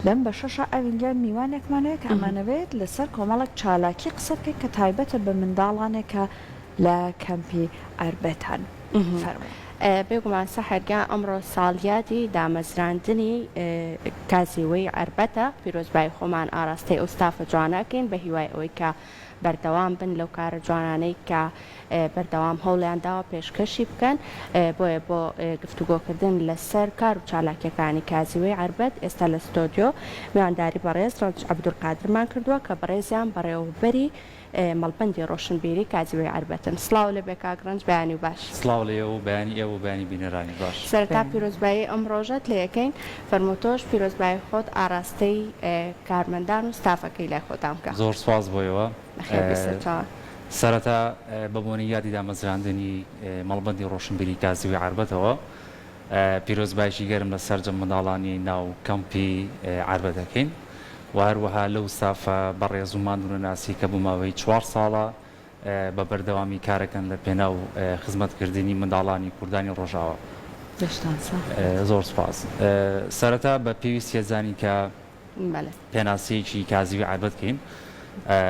لەم بەشەشا ئەوینجا میوانێکمان هەیە کە ئەمانەوێت لەسەر کۆمەڵێک چالاکی قسە بکەین کە تایبەتە بە منداڵانێک کە لە کەمپی ئەربەتان. فەرموو. بێگومان سەحەر گیان ئەمڕۆ ساڵیادی دامەزراندنی کازیوەی ئەربەتە، پیرۆزبایی خۆمان ئاراستەی ئەو ستافە جوانە ئەکەین بە هیوای ئەوەی کە، بەردەوام بن لەو کارە جوانانەی کە بەردەوام هەوڵیان داوە پێشکەشی بکەن، بۆیە بۆ گفتوگۆکردن لەسەر کار و چالاکیەکانی کازیوەی عەربەت ئێستا لە ستۆدیۆ میوانداری بەڕێز رەنج عەبدولقادرمان کردووە کە بەڕێزیان بەڕێوەبەری مەڵبەندی رۆشنبیری کازیوەی عەربەتن. سڵاو لەبێ کاک رەنج بەیانی باش. سڵاو لە ئێوە و بەیانی ئێوە و بەیانی بینەرانیش باش. سەرەتا پیرۆزبایی ئەم رۆژەت لێ ئەکەین. فەرموو تۆش پیرۆزبایی خۆت ئاراستەی کارمەندان و ستافەکەی لای خۆتان بکە. زۆر سوپاس بۆ ئێوە. بەخێر بێی سەرچاوە. سەرەتا بە بۆنەی یادی دامەزراندنی مەڵبەندی ڕۆشنبیری کاسبی عەربەتەوە پیرۆزباییکی گەرم لە سەرجەم منداڵانی ناو کەمپی عەربەت دەکەین و هەروەها لەو ستافە بەڕێز و ماندوونەناسی کە بۆ ماوەی چوار ساڵە بە بەردەوامی کارەکەن لە پێناو خزمەت کردنی منداڵانی کوردانی ڕۆژاوا. دەستان ساغ بێت. زۆر سوپاس. سەرەتا بە پێویستیە زانین کە پێناسەیەکی کازیوی عەربەت کەین.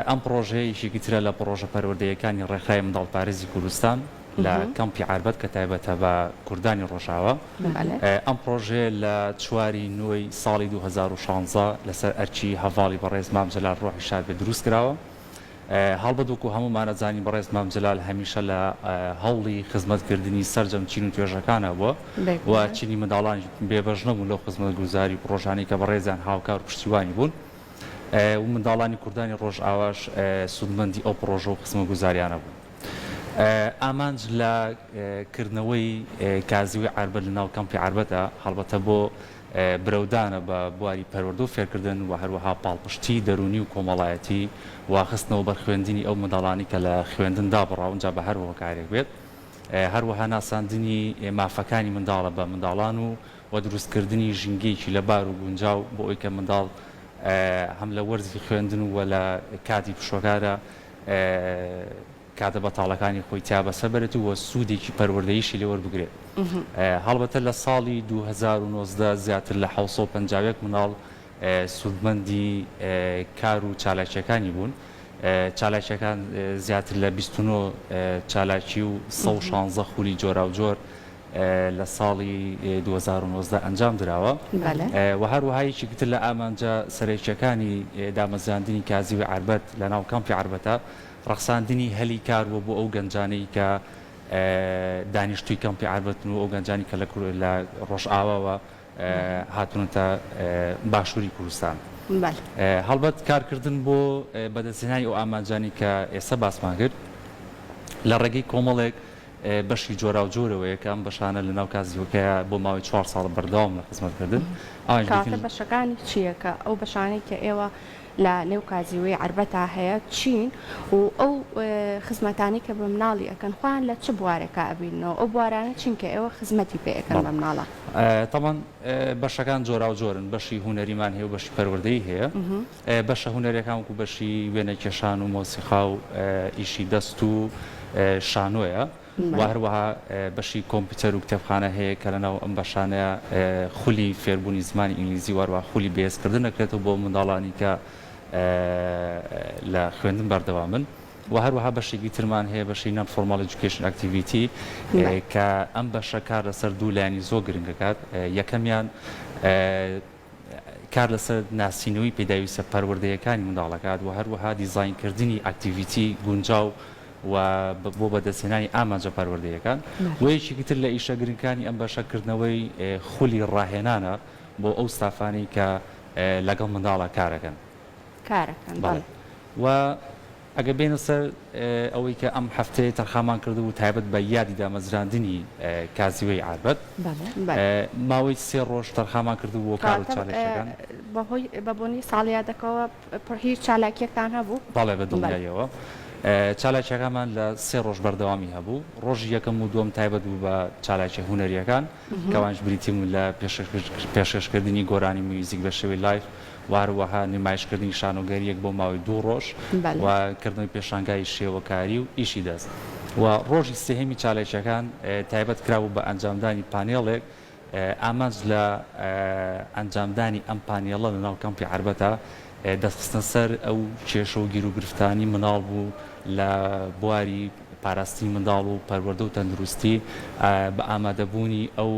ئەم پڕۆژەیە یەکێکی ترە لە پڕۆژە پەروەردەییەکانی ڕێکخراوی منداڵپارێزی کوردستان لە کەمپی عەربەت کە تایبەتە بە کوردانی ڕۆژاوا. ئەم پڕۆژەیە لە چواری نۆی ساڵی دوو هەزار و شانزە لەسەر ئەرکی هەڤاڵی بەڕێز مام جەلال ڕۆحی شاد بێ دروست کراوە. هەڵبەت وەکو هەموومان ئەزانین بەڕێز مام جەلال هەمیشە لە هەوڵی خزمەت کردنی سەرجەم چین و توێژەکانا بووە و چینی منداڵانیش بێ بەش نەبوون لەو خزمەت گوزاری و پڕۆژانەی کە بەڕێزیان هاوکار و پشتیوانی بوون و منداڵانی کوردانی ڕۆژئاواش سوودمەندی ئەو پڕۆژە و خزمەت گوزاریانە بوون. ئامانج لە کردنەوەی کازیوەی عەربەت لە ناو کەمپی عەربەتە هەڵبەتە بۆ برەودانە بە بواری پەروەردە و فێرکردن و هەروەها پاڵپشتیی دەروونی و کۆمەڵایەتی و خستنەوەبەر خوێندنی ئەو منداڵانەی کە لە خوێندن دابڕاون جا بە هەر هۆکارێک بێت، هەروەها ناساندنی مافەکانی منداڵە بە منداڵان و و دروستکردنی ژینگەیەکی لەبار و گونجاو بۆ ئەوی کە منداڵ هەم لە وەرزی خوێندن و وە لە کاتی پشووەکارا کاتە بەتاڵەکانی خۆی تیا بەسەربەرێت و سوودێکی پەروەردەییشی لێ وەربگرێت. هەڵبەتە لە ساڵی دوو هەزار و نۆزدە زیاتر لە حەوت سەد و پەنجا و یەک منداڵ سوودمەندی کار و چالاکییەکانی بوون. چالاکییەکان زیاتر لە بیست و نۆ چالاکی و سەد و شانزە خولی جۆراوجۆر لە ساڵی دوو هەزار و نۆزدە ئەنجام دراوە و هەروەها یەکێکی تر لە ئامانجە سەرەکییەکانی دامەزراندنی کازیوی عەربەت لەناو کامپی عەربەتە، ڕەخساندنی هەلی کار و بۆ ئەو گەنجانەی کە دانیشتووی کەمپی عاربەتن و ئەو گەنجانی کە لە ڕۆژئاواوە هاتوونەتە باشووری کوردستان. هەڵبەت کارکردن بۆ بەدەستهێنانی ئەو ئامانجانەی کە ئێستا باسمان کرد لە ڕێگەی کۆمەڵێک بەشی جۆراوجۆرەوەیە کە ئەم بەشانە لە ناو کازیوەکەیە بۆ ماوەی چوار ساڵە بەردەوامن لە خزمەتکردن. کاتە بەشەکانی چییە کە ئەو بەشانەی کە ئێوە لە نێو کازیوەی عەربەتا هەیە چین و ئەو خزمەتانەی کە بە مناڵی ئەکەن خۆیان لە چ بوارێکا ئەبیننەوە ئەو بوارانە چین کە ئێوە خزمەتی پێ ئەکەن بە مناڵان؟ تەبعەن بەشەکان جۆراو جۆرن بەشی هونەریمان هەیە و بەشی پەروەردەیی هەیە بەشە هونەرەکان وەکو بەشی وێنەکێشان و مۆسیقا و ئیشی دەست و شانۆیە. و هەروەها بەشی کۆمپیوتەر و کتێبخانە هەیە کە لەناو ئەم بەشانەیا خولی فێربوونی زمانی ئینگلیزی و هەروەها خولی بەهێزکردن دەکرێتەوە بۆ منداڵانی کە لە خوێندن بەردەوامن و هەروەها بەشێکی ترمان هەیە بەشی نان فۆرماڵ ئێجوکەیشن ئەکتیڤیتی کە ئەم بەشە کار لەسەر دوو لایەنی زۆر گرنگ دەکات یەکەمیان کار لەسەر ناسینەوەی پێداویستە پەروەردەیەکانی منداڵ دەکات و هەروەها دیزاینکردنی ئەکتیڤیتی گونجاو و بۆ بەدەستهێنانی ئامانجە پەروەردەیەکان و یەکێکی تر لە ئیشە گرنگەکانی ئەم بەشە کردنەوەی خولی ڕاهێنانە بۆ ئەو ستافانەی کە لەگەڵ منداڵە کارەکەن. کارەکەن بەڵێ. و. ئەگەر بێینە سەر ئەوەی کە ئەم هەفتەیە تەرخانمان کردبوو تایبەت بە یادی دامەزراندنی کازیوەی ئاربەت ماوەی سێ ڕۆژ تەرخانمان کردبوو بۆ کار و چالاکییەکان. بەهۆی بەبوونی ساڵیادەکەوە پڕ هیچ چالاکییەکتان هەبوو؟ بەڵێ بە دڵنیاییەوە چالاکییەکانمان لە سێ ڕۆژ بەردەوامی هەبوو، ڕۆژی یەکەم و دووەم تایبەت بوو بە چالاکییە هونەرییەکان کە ئەوانیش بریتی بوون لە پێشکەشکردنی گۆرانی میوزیک بە شێوەی لایڤ، واروەها نمایشکردنی شانۆگەرییەک بۆ ماوەی دوو ڕۆژ و کردنەوەی پێشانگای شێوەکاری و ئیشی دەست و ڕۆژی سێهەمی چالاکییەکان تایبەت کرابوو بە ئەنجامدانی پانێڵێک ئامانج لە ئەنجامدانی ئەم پانێڵە لەناو کەمپی عەربەتا دەستخستنە سەر ئەو کێشە و گیروگرفتانی مناڵ بوو لە بواری پاراستنی منداڵ و پەروەردە و تەندروستی بە ئامادەبوونی ئەو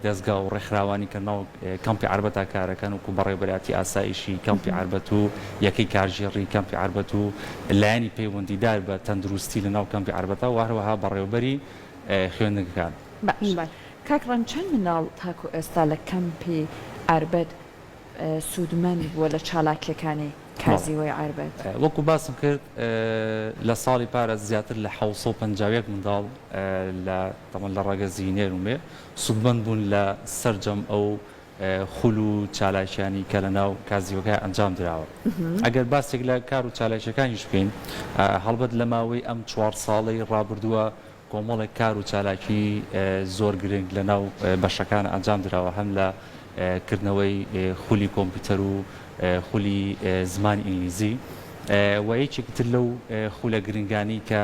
دەزگا و ڕێکخراوانی کە ناو کەمپی عەربەتا کارەکەن وەکو بەڕێوەبەرایەتی ئاسایشی کەمپی عەربەت و یەکەی کارگێڕی کەمپی عەربەت و لایەنی پەیوەندیدار بە تەندروستی لە ناو کەمپی عەربەتا و هەروەها بەڕێوەبەری خوێندنگەکان. باشە کاک ڕەنج چەند مناڵ تاکو ئێستا لە کەمپی عەربەت سوودمەند بووە لە چالاکییەکانی کازیوەی عەربەت؟ وەکو باسم کرد لە ساڵی پارە زیاتر لە حەوت سەد و پەنجا و یەک منداڵ لە تەمەن لە ڕەگەزی نێر و مێ سوودمەند بوون لە سەرجەم ئەو خول و چالاکییانەی کە لەناو کازیوەکە ئەنجام دراوە. ئەگەر باسێک لە کار و چالاکییەکانیش بکەین هەڵبەت لە ماوەی ئەم چوار ساڵەی ڕابردووە کۆمەڵێک کار و چالاکی زۆر گرنگ لە ناو بەشەکان ئەنجام دراوە هەم لە کردنەوەی خولی کۆمپیوتەر و خولی زمانی ئینگلیزی وە یەکێکی تر لەو خولە گرنگانی کە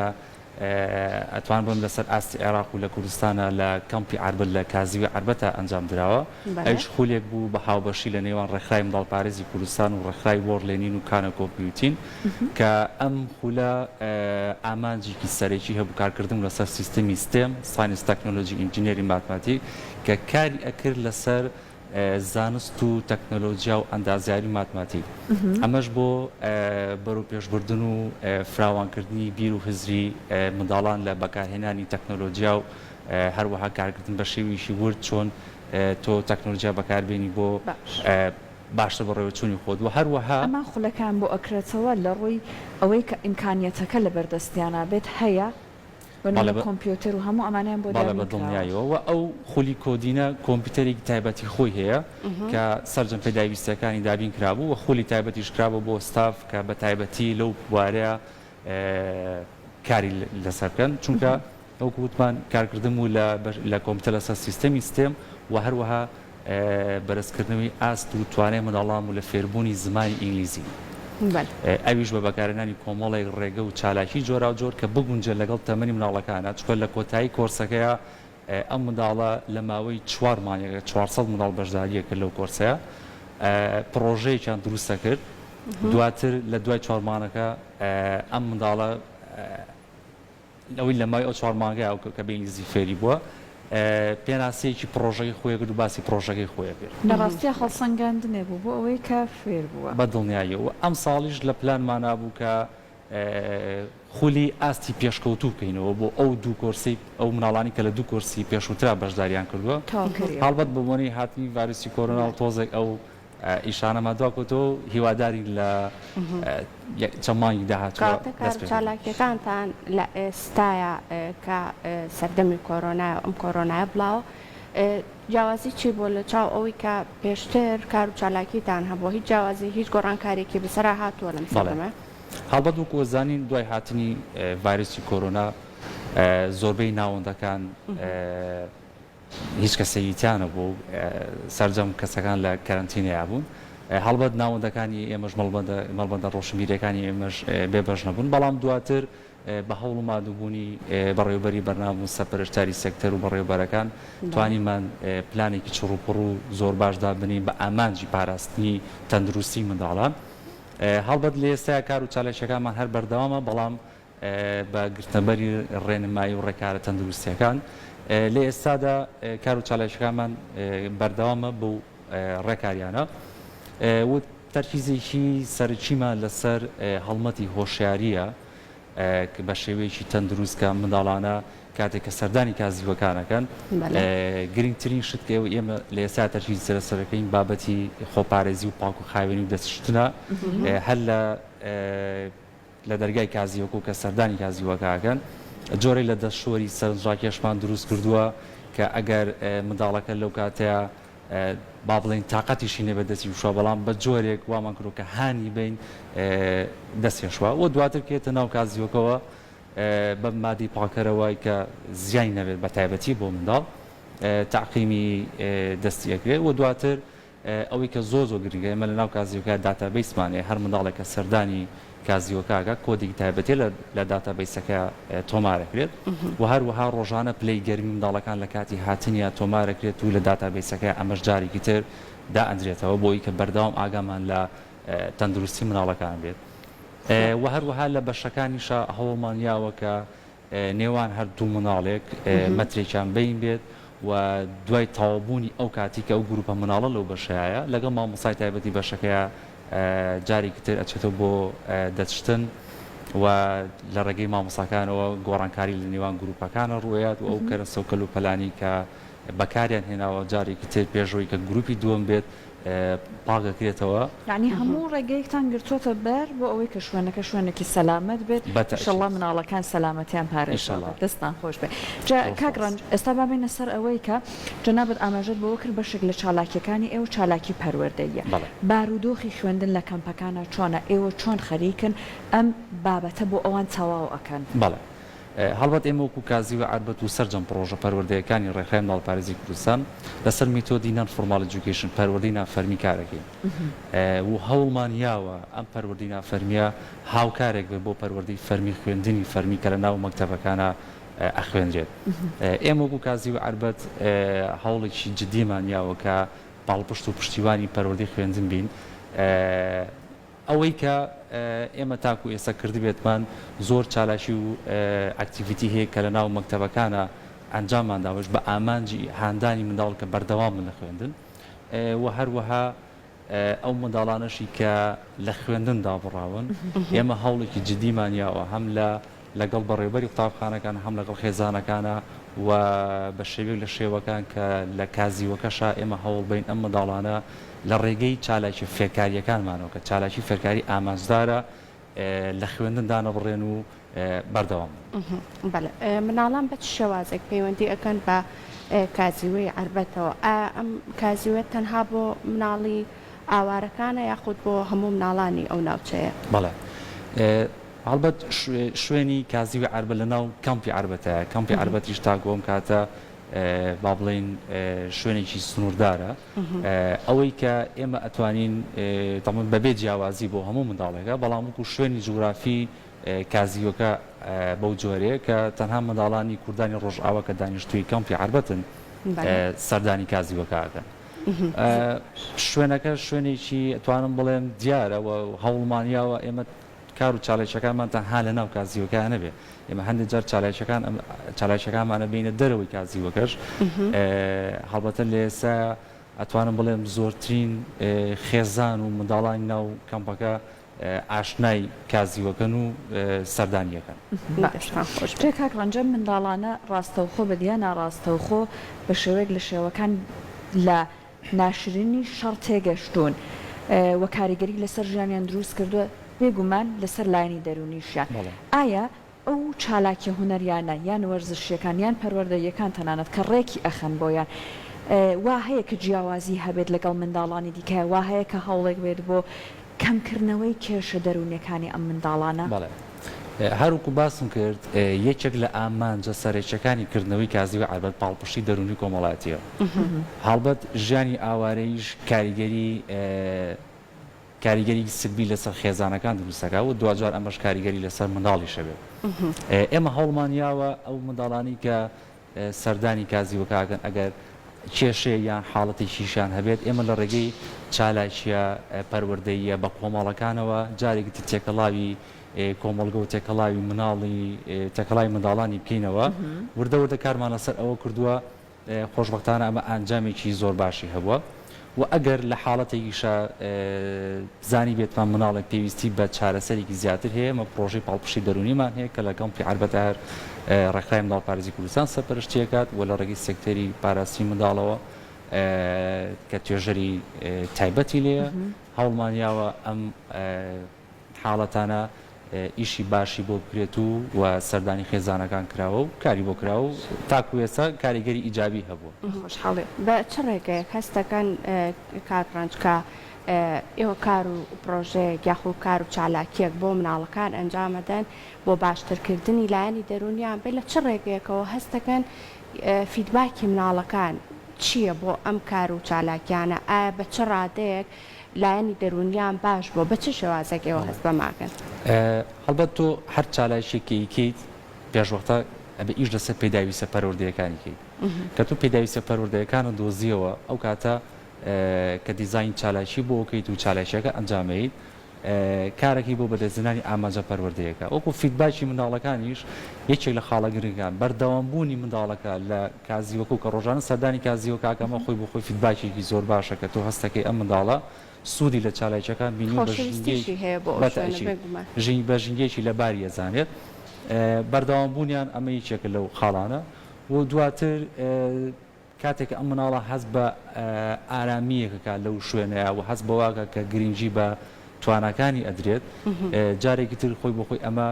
ئەتوان بم لەسەر ئاستی عێراق و لە کوردستانە لە کەمپی عربەت لە کازیوی عربەتە ئەنجام دراوە ئەوش خولێک بوو بە هاوبەشی لە نێوان ڕێکخراوی منداڵپارێزی کوردستان و ڕێکخراوی وۆرلێنین و کانە کۆمپیوتین کە ئەم خولە ئامانجێکی سەرەکی هەبوو کارکردن بوو لەسەر سیستمی ستێم، ساینس تەکنۆلۆجی ئینجینێری ماتماتیک، کە کاری ئەکرد لەسەر زانست و تەکنۆلۆجیا و ئەندازیاری و ماتماتیک ئەمەش بۆ بەرەوپێشبردن و فراوانکردنی بیر و هزری منداڵان لە بەکارهێنانی تەکنۆلۆجیا و هەروەها کارکردن بە شێویشی ورد چۆن تۆ تەکنۆلۆجیا بەکاربێنی بۆ باشتر بەڕێوە چوونی خۆت وە هەروەها. ئەمان خولەکەیان بۆ ئەکرێتەوە لە ڕووی ئەوەی کە ئیمکانیەتەکە لە بەر دەستیانا بێت هەیە بە نموونە کۆمپیۆتێر و هەموو ئەمانەیان بۆ دیار نەکراوە. بەڵێ بە دڵنیایەوە وە ئەو خولی کۆدینە کۆمپیوتەرێکی تایبەتی خۆی هەیە کە سەرجەم پێداویستیەکانی دابین کرابوو وە خولی تایبەتیش کرابوو بۆ ستاف کە بە تایبەتی لەو بوارەیا کاری لەسەر بکەن چونکە وەکو وتمان کارکردن بوو لە کۆمپیوتەر لەسەر سیستەمی ستێم و هەروەها بەرزکردنەوەی ئاست و توانای منداڵان بوو لە فێربوونی زمانی ئینگلیزی ئەویش بە بەکارهێنانی کۆمەڵێک ڕێگە و چالاکی جۆراوجۆر کە بگونجێت لەگەڵ تەمەنی مناڵەکانە چکە لە کۆتایی کۆرسەکەیە ئەم منداڵە لە ماوەی چوار مانگێکدا چوار سەد منداڵ بەشدارییان کرد لەو کۆرسەیا، پڕۆژەیەکیان دروستەکرد، دواتر لە دوای چوار مانگەکە ئەم منداڵە لەوەی لە ماوەی ئەو چوار مانگەیا ئەو کە بە ئینگلیزی فێری بووە، پێناسەیەکی پڕۆژەکەی خۆی کرد و باسی پڕۆژەکەی خۆی کرد. لە ڕاستیا هەڵسەنگاندنێک بوو بۆ ئەوەی کە فێر بووە. بە دڵنیاییەوە ئەمساڵیش لە پلانمانا بوو کە خولی ئاستی پێشکەوتوو بکەینەوە بۆ ئەو دوو کۆرسەی ئەو مناڵانی کە لە دوو کۆرسی پێشووترا بەشداریان کردووە هەڵبەت بە بۆنەی هاتنی ڤایرۆسی کۆرۆنا و تۆزێک ئەو ئیشانەمان دوا کەوتەوە و هیوادارین لە چەند مانگی داهاتووە دەست پێ کاتەکە چالاکیەکانتان لە ئێستایا کە سەردەمی کۆرۆنا ئەم کۆرۆنایە بڵاوە جیاوازی چی بۆ لە چاو ئەوەی کە پێشتر کار و چالاکیتان هەبووە هیچ جیاوازی هیچ گۆڕانکارێکی بەسەرا هاتووە لەم سەردەمە هەڵبەت وەکو ئەزانین دوای هاتنی ڤایرۆسی کۆرۆنا زۆربەی ناوەندەکان هیچ کەسەیتیان نەبوو و سەرجەم کەسەکان لە کەرەنتینەیا بوون هەڵبەت ناوەندەکانی ئێمەش مەڵبەندە مەڵبەندە ڕۆشنبیرەکانی ئێمەش بێبەش نەبوون بەڵام دواتر بە هەوڵ و مادووبوونی بەڕێوبەری بەرنام و سەپەرشتاری سێکتەر و بەڕێوبەرەکان توانیمان پلانێکی چڕوپڕ و زۆر باش دابنین بە ئامانجی پاراستنی تەندروستی منداڵان هەڵبەت لە ئێستایا کار و چالاکییەکانمان هەر بەردەوامە، بەڵام بە گرتنەبەری ڕێنمایی و ڕێکارە تەندروستییەکان لە ئێستادا کار و چالاکییەکانمان بەردەوامە بەو ڕێکارییانە و تەرکیزێکی سەرەکیمان لەسەر هەڵمەتی هۆشیارییە بە شێوەیەکی تەندروست کە منداڵانە کاتێک کە سەردانی کازیوەکان ئەکەن گرنگترین شت کە ئێمە لە ئێستا تەرکیز سەرە سەرەکەین بابەتی خۆپارێزی و پاک و خاوێنی و دەستشتنە هەر لە لە دەرگای کازیوەکو کە سەردانی کازیوەکەکەن جۆرەی لە دەستشۆری سەرنجڕاکێشمان دروست کردووە کە ئەگەر منداڵەکە لەو کاتەیە با بڵین تااقەتیشی نێ بە دەستی وشوە بەڵام بە جۆرێک وامان کرۆکە هانی بین دەستێشوە و دواتر کێتە ناو کازیوەکەەوە بە مادەی پاکەرەوە کە زیانی نەبێت بە تایبەتی بۆ منداڵ تەعقیمی دەستی ئەکرێت وە دواتر ئەوەی کە زۆر زۆر گرنگە ئێمە لە ناو کازیۆکە داتابەیسمان هەیە هەر منداڵێک کە سەردانی کازیۆکاکە کۆدێکی تایبەتیە لە داتابەیسەکە تۆمارەکرێت وە هەروەها ڕۆژانە پلەی گەرمی منداڵەکان لە کاتی هاتنیا تۆمارەکرێت و لە داتابەیسەکە ئەمەش جارێکی تر دائەندرێتەوە بۆی کە بەردەوام ئاگامان لە تەندروستی منداڵەکان بێت و هەروەها لە بەشەکانیشا هەوڵمان یاوە کە نێوان هەر دوو منداڵێک مەترێکیان بین بێت و دوای تاوابوونی ئەو کاتی کە ئەو گروپە مناڵە لەو بەشایە لەگەڵ مامۆسای تایبەتی بەشەکەیە جارێکی تر ئەچێتەوە بۆ دەچشتن و لە ڕێگەی مامۆساکانەوە گۆڕانکاری لە نێوان گروپەکانە ڕویات و ئەو کەرە سەوکەل و پەلانی کە بەکاریان هێناوە جارێکی تر پێشەوەی کە گروپی دووەم بێت پاک ئەکرێتەوە. یەعنی هەموو ڕێگەیەکتان گرتووەتە بەر بۆ ئەوەی کە شوێنەکە شوێنێکی سەلامەت بێت، ئیشەڵڵا مناڵەکان سەلامەتیان پارێزراوە، دەستتان خۆش بێت. جا کاک ڕەنج ئێستا با بێینە سەر ئەوەی کە جەنابت ئاماژەت بەوە کرد بەشێک لە چالاکییەکانی ئێوە چالاکی پەروەردەییە، بارودۆخی خوێندن لە کەمپەکانا چۆنە، ئێوە چۆن خەریکن ئەم بابەتە بۆ ئەوان تەواو ئەکەن؟ بەڵێ هەڵبەت ئێمە وەکو کازی و عەربەت و سەرجەم پڕۆژە پەروەردەیەکانی ڕێکخراوی منداڵپارێزی کوردستان لەسەر میتۆدی نان فۆرماڵ ئێجوکەیشن، پەروەردەی نافەرمی، کارەکەین و هەوڵمان یاوە ئەم پەروەردەی نافەرمییە هاوکارێک بێت بۆ پەروەردەی فەرمی، خوێندنی فەرمی کە لە ناو مەکتەبەکانا ئەخوێنرێت. ئێمە وەکو کازی و عەربەت هەوڵێکی جدیمان یاوە کە پاڵپشت و پشتیوانی پەروەردەی خوێندن بین. ئەوەی کە ئێمە تاکو ئێستا کردبێتمان زۆر چالاکی و ئەکتیڤیتی هەیە کە لە ناو مەکتەبەکانا ئەنجاممان داوەش بە ئامانجی هاندانی منداڵ کە بەردەوام بن لە خوێندن و هەروەها ئەو منداڵانەشی کە لە خوێندن دابڕاون ئێمە هەوڵێکی جدیمان یاوە هەم لە لەگەڵ بەڕێوبەری قوتابخانەکان هەم لەگەڵ خێزانەکانا و بە شێوەیەک لە شێوەکان کە لە کازیوەکەشا ئێمە هەوڵبەین ئەم منداڵانە لە ڕێگەی چالاکیە فێرکاریەکانمانەوە کە چالاکی فێرکاری ئامانجدارە لە خوێندن دانەبڕێن و بەردەوام بن. بەڵێ مناڵان بە چ شێوازێک پەیوەندی ئەکەن بە کازیوەی عربەتەوە ئا ئەم کازیوە تەنها بۆ مناڵی ئاوارەکانە یاخود بۆ هەموو مناڵانی ئەو ناوچەیە؟ بەڵێ. هەڵبەت شوێنی کازیوی عەربە لەناو کەمپی عەربەتایە، کەمپی عەربەتیش تاکو ئەم کاتە با بڵێین شوێنێکی سنووردارە، ئەوەی کە ئێمە ئەتوانین دەڵێن بەبێ جیاوازی بۆ هەموو منداڵێکە، بەڵام وەکو شوێنی جوگرافی کازیوەکە بەو جۆرەیە کە تەنها منداڵانی کوردانی ڕۆژئاوا کە دانیشتووی کەمپی عەربەتن سەردانی کازیوەکە ئەکەن. شوێنەکە شوێنێکی ئەتوانم بڵێم دیارە و هەوڵمانیاوە ئێمە کار و چالاکییەکانمان تەنها لەناو کازیوەکە نەبێت، ئێمە هەندێک جار چالاکییەکانمان ئەبەینە دەرەوەی کازیوەکەش، هەڵبەتە لە ئێستا ئەتوانم بڵێم زۆرترین خێزان و منداڵانی ناو کەمپەکە ئاشنای کازیوەکەن و سەردانی ئەکەن. دەستتان خۆش بێت. کاک ڕەنج ئەم منداڵانە ڕاستەوخۆ بە یا ناڕاستەوخۆ بە شێوەیەک لە شێوەکان لە. ناشرینی شەڕ تێگەشتوون و کاریگەری لەسەر ژیانیان دروست کردووە، بێ گومان لەسەر لایەنی دەروونیشیان. ئایا ئەو چالاکیە هونەریانە یان وەرزشیەکان یان پەروەردەییەکان تەنانەت کە ڕێکی ئەخەن بۆیان وا هەیە کە جیاوازی هەبێت لەگەڵ منداڵانی دیکە وا هەیە کە هەوڵێک بێت بۆ کەمکردنەوەی کێشە دەروونیەکانی ئەم منداڵانە؟ هەروەکو باسم کرد یەکێک لە ئامانجە سەرەکیەکانی کردنەوەی کازیوە عەربەت پاڵپشتی دەروونی کۆمەڵایەتیە و هەڵبەت ژیانی ئاوارەیش کاریگەری کاریگەری سلبی لەسەر خێزانەکان دروست دەکات و دواجار ئەمەش کاریگەری لەسەر منداڵیش هەبێت ئێمە هەوڵمان یاوە ئەو منداڵانی کە سەردانی کازیوەکە ئەکەن ئەگەر کێشەیەک یان حاڵەتێکیشیان هەبێت، ئێمە لە ڕێگەی چالاکییە پەروەردەییە بەکۆمەڵەکانەوە جارێکی تر تێکەڵاوی کۆمەڵگە و تێکەڵاوی مناڵی تێکەڵاوی منداڵانی بکەینەوە، وردە وردە کارمان لەسەر ئەوە کردووە، خۆشبەختانە ئەمە ئەنجامێکی زۆر باشی هەبووە وە ئەگەر لە حاڵەتێکیشا زانیبێتمان منداڵێک پێویستی بە چارەسەرێکی زیاتر هەیە، ئێمە پڕۆژەی پاڵپشتی دەروونیمان هەیە کە لە کەمپی عەربەتەهەر ڕێکخراوی منداڵپارێزی کوردستان سەرپەرشتی ئەکات و لە ڕێگەی سێکتەری پاراستنی منداڵەوە کە توێژەری تایبەتی لێیە هەوڵمان یاوە ئەم حاڵەتانە ئیشی باشی بۆ بکرێت و وە سەردانی خێزانەکان کراوە و کاری بۆ کراوە و تاکو ئێستا کاریگەری ئیجابی هەبووە. خۆشحاڵی بە چ ڕێگەیەک هەست دەکەن کاک ڕەنج کە ئێوە کار و پڕۆژەیەک یاخود کار و چالاکییەک بۆ مناڵەکان ئەنجام ئەدەن بۆ باشتر کردنی لایەنی دەروونیان بە لە چ ڕێگەیەکەوە هەست دەکەن فیدباکی مناڵەکان چییە بۆ ئەم کار و چالاکیانە ئایا بە چ ڕادەیەک لایەنی دەروونیان باش بووە، بە چ شێوازێک ئێوە هەست بە ماکن؟ هەڵبەت تۆ هەر چالاکییەک کە ئیکەیت پێشوەختە ئەبێ ئیش لەسەر پێداویستە پەروەردەیەکانی کەیت. کە تۆ پێداویستە پەروەردەیەکانت دۆزییەوە، ئەو کاتە کە دیزاین چالاکی بۆ ئەکەیت و چالاکییەکە ئەنجامەیت، کارەکەی بۆ بەدەستهێنانی ئامانجە پەروەردەیەکە. وەکوو فیدباکی منداڵەکانیش یەکێک لە خاڵە گرنگەکان، بەردەوامبوونی منداڵەکە لە کازیوکە و کە ڕۆژانە سەردانی کازیوکاکە ئەمە خۆی بۆ خۆی فیدباکێکی زۆر باشە کە تۆ هەستەکەی ئەم منداڵە سوودی لە چالاکیەکان بینیوە بە ژینگەیەکی خۆشەویستیشی هەیە بۆ ئەو شوێنە بێ گومان. بەتاکید بە ژینگەیەکی لەباری ئەزانێت بەردەوام بوونیان ئەمە یەکێکە لەو خاڵانە و دواتر کاتێک کە ئەم منداڵە هەست بە ئارامیەک ئەکات لەو شوێنەیا و هەست بەوە ئەکات کە گرینگی بە تواناکانی ئەدرێت جارێکی تر خۆی بۆ خۆی ئەمە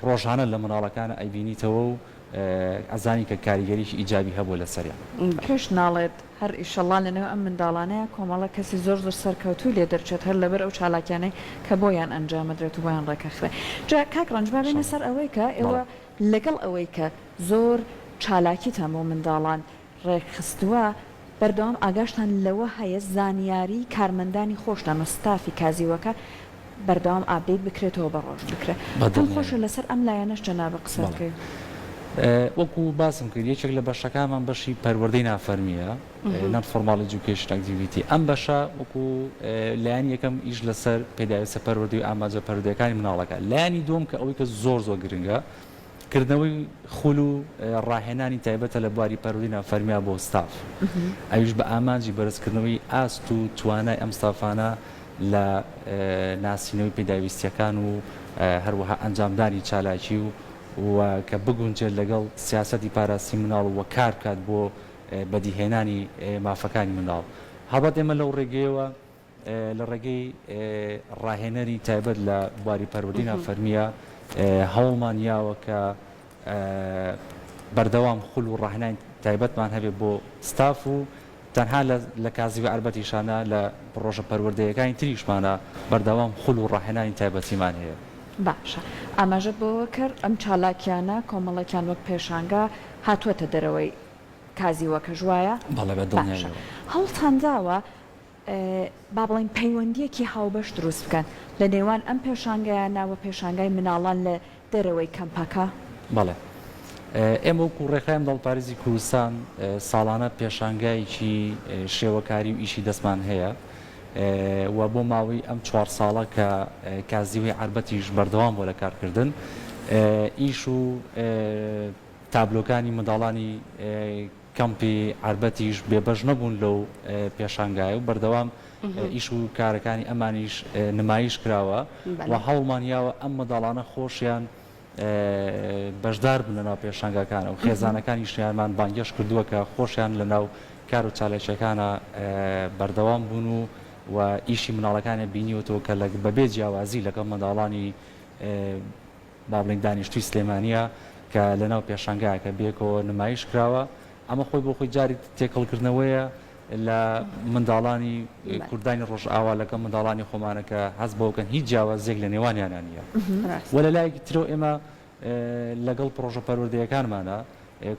ڕۆژانە لە مناڵەکان ئەیبینیتەوە و ئەزانی کە کاریگەریی ئیجابی هەبووە لە سەریان. پێش ناڵێت هەر ئیشەڵا لە نێو ئەم منداڵانەیا کۆمەڵە کەسی زۆر زۆر سەرکەوتووی لێ دەرچێت هەر لەبەر ئەو چالاکیانەی کە بۆیان ئەنجامەدرێت و بۆیان ڕێکەخرێ جا کاک ڕەنج با بێینە سەر ئەوەی کە ئێوە لەگەڵ ئەوەی کە زۆر چالاکیتان بۆ منداڵان ڕێکخستووە، بەردەوام ئاگاشتان لەوە هەیە زانیاریی کارمەندانی خۆشتان و ستافی کازیوەکە بەردەوام ئاپدەیت بکرێتەوە بە ڕۆژ بکرێت. پێم خۆشە لەسەر ئەم لایەنەش جەنابت قسە بکەی. وەکو باسم کرد یەکێک لە بەشەکانمان بەشی پەروەردەی نافەرمییە، نۆن فۆرماڵ ئێجوکەیشن ئەکتیڤیتی، ئەم بەشە وەکو لایەنی یەکەم ئیش لەسەر پێداویستە پەروەردەی و ئامانجە پەروەردەیەکانی منداڵەکە، لایەنی دووەم کە ئەوەی کە زۆر زۆر گرنگە، کردنەوەی خول و ڕاهێنانی تایبەتە لە بواری پەروەردینە فەرمییە بۆ ستاف، ئەویش بە ئامانجی بەرزکردنەوەی ئاست و توانای ئەم ستافانە لە ناسینەوەی پێداویستییەکان و هەروەها ئەنجامدانی چالاکی و کە بگونجێت لەگەڵ سیاسەتی پاراستنی منداڵ و کار بکات بۆ بەدیهێنانی مافەکانی منداڵ. هەڵبەت ئێمە لەو ڕێگەیەوە لە ڕێگەی ڕاهێنەری تایبەت لە بواری پەروەردەی نافەرمییە هەوڵمان یاوە کە بەردەوام خول و ڕاهێنانی تایبەتمان هەبێت بۆ ستاف و تەنها لە کازیوی عربەتیشانە لە پڕۆژە پەروەردەیەکانی تریشمانە بەردەوام خول و ڕاهێنانی تایبەتیمان هەیە. باشە ئاماژەت بەوە کرد ئەم چالاکیانە کۆمەڵێکیان وەک پێشانگا هاتووەتە دەرەوەی کازیوەکەش وایە؟ بەڵێ بە دڵنیاییەوە. باشە هەوڵتان داوە با بڵێین پەیوەندییەکی هاوبەش دروست بکەن لە نێوان ئەم پێشانگایانە و پێشانگای مناڵان لە دەرەوەی کەمپەکە؟ بەڵێ. ئێمە وەکوو ڕێکخراوی منداڵپارێزی کوردستان ساڵانە پێشانگایەکی شێوەکاری و ئیشی دەستمان هەیە و بۆ ماوەی ئەم چوار ساڵە کە کازیوەی عەربەتیش بەردەوام بووە لە کارکردن ئیش و تابلۆکانی منداڵانی کەمپی عەربەتیش بێبەش نەبوون لەو پێشانگایە و بەردەوام ئیش و کارەکانی ئەمانیش نمایش کراوە و هەوڵمان یاوە ئەم منداڵانە خۆشیان بەشدار بن لەناو پێشانگاکانە و خێزانەکانی شیانمان بانگێش کردووە کە خۆشیان لەناو کار و چالاکیەکانە بەردەوام بوون و و ئیشی مناڵەکانە بینیوەەوە کە لە بەبێ جیاوازی لەگەڵ منداڵانی با بڵێین دانیشتووی سلێمانییە کە لەناو پێشانگایەکە بەیەکەوە نمایش کراوە، ئەمە خۆی بۆ خۆی جارێ تێکەڵکردنەوەیە لە منداڵانی کوردانی ڕۆژئاوا لەگەڵ منداڵانی خۆمانە کە هەست بەوە کەن هیچ جیاوازییەک لە نێوانیانا نییە و لە لایەکی ترەوە ئێمە لەگەڵ پڕۆژە پەروەردەیەکانمانا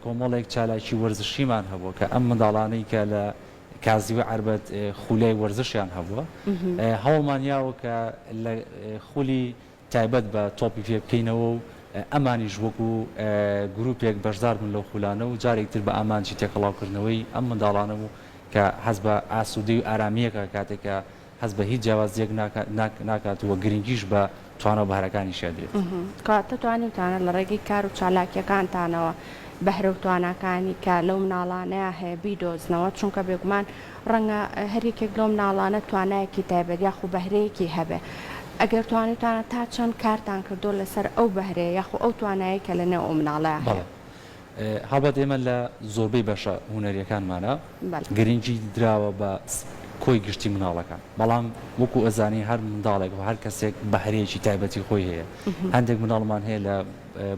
کۆمەڵێک چالاکی وەرزشیمان هەبووە کە ئەم منداڵانەی کە لە کازیوە عەربەت خولیای وەرزشیان هەبووە هەوڵمان یاوە کە لە خولی تایبەت بە تۆپی پێ بکەینەوە و ئەمانیش وەکو گروپێک بەشدار بن لەو خولانە و جارێک تر بە ئامانجی تێکەڵاو کردنەوەی ئەم منداڵانە و کە هەست بە ئاسودەی و ئارامیەکە کاتێک کە هەست بە هیچ جیاوازیەک ناکات و گرنگیش بە توانا و بەهرەکانیشی ئەدرێت. کەواتە توانیوتانە لە ڕێگەی کار و چالاکیەکانتانەوە بەهرە و تواناکانی کە لەو مناڵانەیا هەیە بیدۆزنەوە چونکە بێگومان ڕەنگە هەر یەکێک لەو مناڵانە توانایەکی تایبەت یاخو بەهرەیەکی هەبێ ئەگەر توانیوتانە تا چەند کارتان کردوە لەسەر ئەو بەهرەیە یاخو ئەو توانایەی کە لە نێو ئەو مناڵەیا هەیە؟ بەڵێ هەڵبەت ئێمە لە زۆربەی بەشە هونەریەکانمانا گرنگی دراوە بە کۆی گشتی مناڵەکان بەڵام وەکو ئەزانی هەر منداڵێک و هەر کەسێک بەهرەیەکی تایبەتی خۆی هەیە هەندێک مناڵمان هەیە لە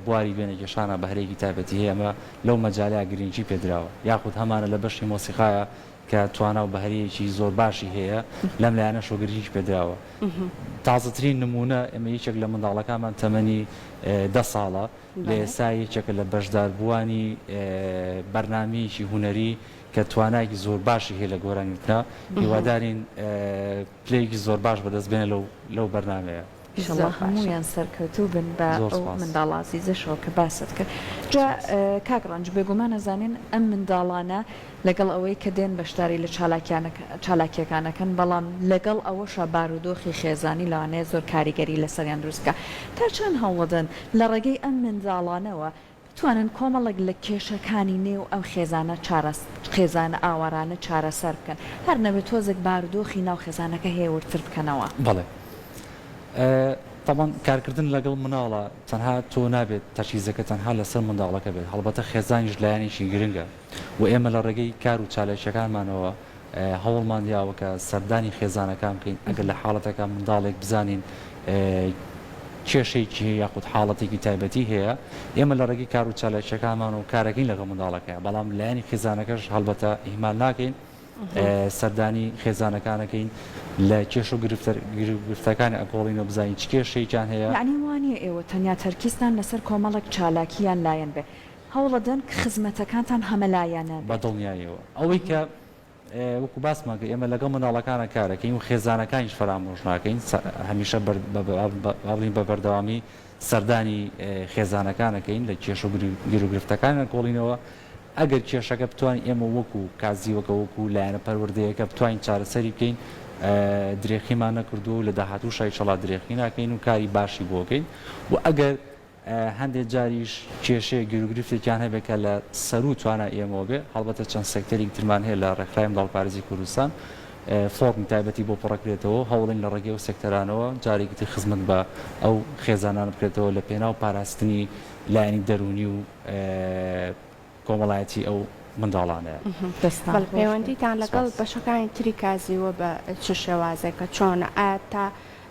بواری وێنەکێشانە بەهرەیەکی تایبەتی هەیە ئەمە لەو مەجالە گرینگی پێدراوە یاخود هەمانە لە بەشی مۆسیقایە کە توانا و بەهرەیەکی زۆر باشی هەیە لەم لایەنە شۆگرژیش پێدراوە تازەترین نمونە ئەمە یەکێک لە منداڵەکانمان تەمەنی دە ساڵە لە ئێسا یەکێکە لە بەشداربووانی بەرنمەیەکی هوەری کە توانایکی زۆر باشی هەیە لە گۆرانیوتنا هیوادارین پلەیەکی زۆر باش بەدەست بێنە لەو لەو بەرنمەیە ئیشەڵا هەموویان سەرکەوتوو بن بە ئەو منداڵە ئازیزەشەوە کە باست کرد جا کاک ڕەنج بێگومان ئەزانین ئەم منداڵانە لەگەڵ ئەوەی کە دێن بەشداری لە چالاکیەکان ئەکەن بەڵام لەگەڵ ئەوەشا بارودۆخی خێزانی لەوانەیە زۆر کاریگەری لەسەریان دروست بکات تا چەند هەوڵدەن لە ڕێگەی ئەم منداڵانەوە بتوانن کۆمەڵێک لە کێشەکانی نێو ئەم خێزانە چارەس خێزانە ئاوارانە چارەسەر بکەن هەر نەبێت تۆزێک بارودۆخی ناو خێزانەکە هێ وردتر بکەنەوە. بەڵێ تەبان کارکردن لەگەڵ مناڵە تەنها تۆ نابێت تەرکیزەکە تەنها لەسەر منداڵەکە بێت هەڵبەتە خێزانیش لایەنێکی گرنگە. و ئێمە لە ڕێگەی کار و چالاکییەکانمانەوە هەوڵمان داوە کە سەردانی خێزانەکان بکەین ئەگەر لە حاڵەتەکە منداڵێک بزانین کێشەیەکی هەیە یاخود حاڵەتێکی تایبەتی هەیە ئێمە لە ڕێگەی کار و چالاکیەکانمانەوە کارەکەین لەگەڵ منداڵەکەیە بەڵام لایەنی خێزانەکەش هەڵبەتە ئیهمال ناکەین سەردانی خێزانەکانەکەین لە کێش و گرفتەکانی ئەگۆڵینەوە بزانین چ کێشەیەکیان هەیە یانی وانیە ئێوە تەنیا تەرکیزتان لەسەر کۆمەڵێک چالاکی یان لایەن بێ هەوڵەدەن کە خزمەتەکانتان هەمەلایەنە بە بێت. دڵنیاییەوە ئەوەی کە وەکو باسمان کرد ئێمە لەگەڵ منداڵەکانە کار دەکەین و خێزانەکانیش فەرامۆش ناکەین هەمیشە با بڵێین بە بەردەوامی سەردانی خێزانەکان دەکەین لە کێشە و گیروگرفتەکانیان کۆڵینەوە ئەگەر کێشەکە بتوانین ئێمە وەکو کازیوەکە وەکو لایەنە پەروەردەیەکە بتوانین چارەسەری بکەین درێخیمان نەکردووە و لە داهاتووشایشەڵا درێخی ناکەین و کاری باشی بۆ دەکەین و ئەگەر هەندێک جاریش کێشەیەک گیروگرفتێکیان هەبێت کە لە سەروو توانای ئێمەوە بێت، هەڵبەتە چەند سێکتەرێکی ترمان هەیە لە ڕێکخراوی منداڵپارێزی کوردستان فۆڕمی تایبەتی بۆ پڕدەکرێتەوە و هەوڵین لە ڕێگەی ئەو سێکتەرانەوە جارێکی تر خزمەت بە ئەو خێزانانە بکرێتەوە لە پێناو پاراستنی لایەنی دەروونی و کۆمەڵایەتی ئەو منداڵانەیە. پەیوەندیتان لەگەڵ بەشەکانی تری کازیوە بە چ شێوازێکە چۆنە ئایا تا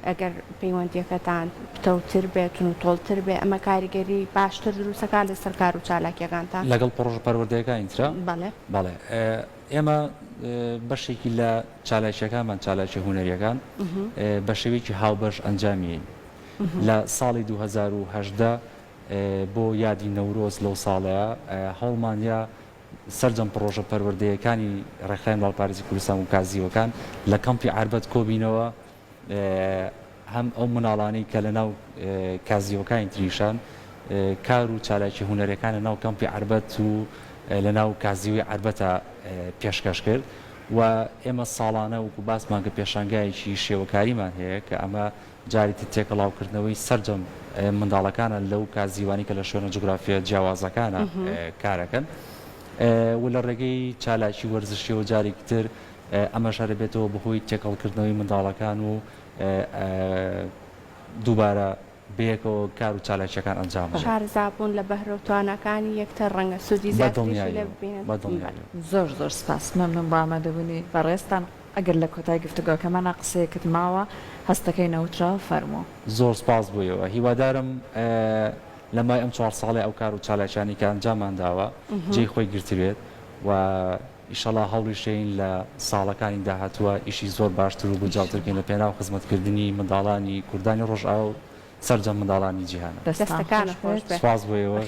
ئەگەر پەیوەندیەکەتان پتەوتر بێت و تۆڵتر بێ ئەمە کاریگەری باشتر دروستەکات لەسەر کار و چالاکیەکانتان؟ لەگەڵ پڕۆژە پەروەردەیەکانی ترا؟ بەڵێ. بەڵێ ئێمە بەشێکی لە چالاکیەکانمان چالاکیە هونەریەکان بە شێوەیەکی هاوبەش ئەنجامیین لە ساڵی دوو هەزار و هەژدە بۆ یادی نەورۆز لەو ساڵەیە هەوڵماندا سەرجەم پڕۆژە پەروەردەیەکانی ڕێکخراوی منداڵپارێزی کوردستان و کازیوەکان لە کەمپی عەربەت کۆبینەوە هەم ئەو مناڵانەی کە لە ناو کازیوەکانی تریشان کار و چالاکی هوەرەکان لە ناو کەمپی عربەت و لە ناو کازیوی عربەتە پێشکەش کرد و ئێمە ساڵانە وکو باسمان کە پێشانگایەکی شێوەکاریمان هەیە کە ئەمە جارێتی تێکەڵاوکردنەوەی سەرجەم منداڵەکانە لەو کازیوانی کە لە شوێنە جوگرافییە جیاوازەکانە کارەکەن و لە ڕێگەی چالاکی وەرزشیەوە جارێکی تر ئەمەش هەرە بێتەوە بەهۆی تێکەڵکردنەوەی منداڵەکان و دووبارە بەیەکەوە کار و چالاکیەکان ئەنجام شارزابوون لە بەهرەو تواناکانی یەکتر ڕەنگە سودی زیاتری لێ ببینن زۆر زۆر سپاس مەمنون بۆ ئامادەبوونی بەڕێزتان. ئەگەر لە کۆتای گفتوگۆکەمانا قسەیەکت ماوە هەستەکەی نەوتراو فەرموو. زۆر سپاس بۆ ئێوە. هیوادارم لە مای ئەم چوار ساڵەی ئەو کار و چالاکیانەی کە ئەنجاممان داوە جێی خۆی گرتبێت و ئیشەڵا هەوڵیشەین لە ساڵەکانی داهاتووە ئیشی زۆر باشتر و گونجاوتر بکەین لە پێناو خزمەتکردنی منداڵانی کوردانی ڕۆژئاوا و سەرجەم منداڵانی جیهان. دەستان خۆش بێت. سپاس بۆ ئێوەش.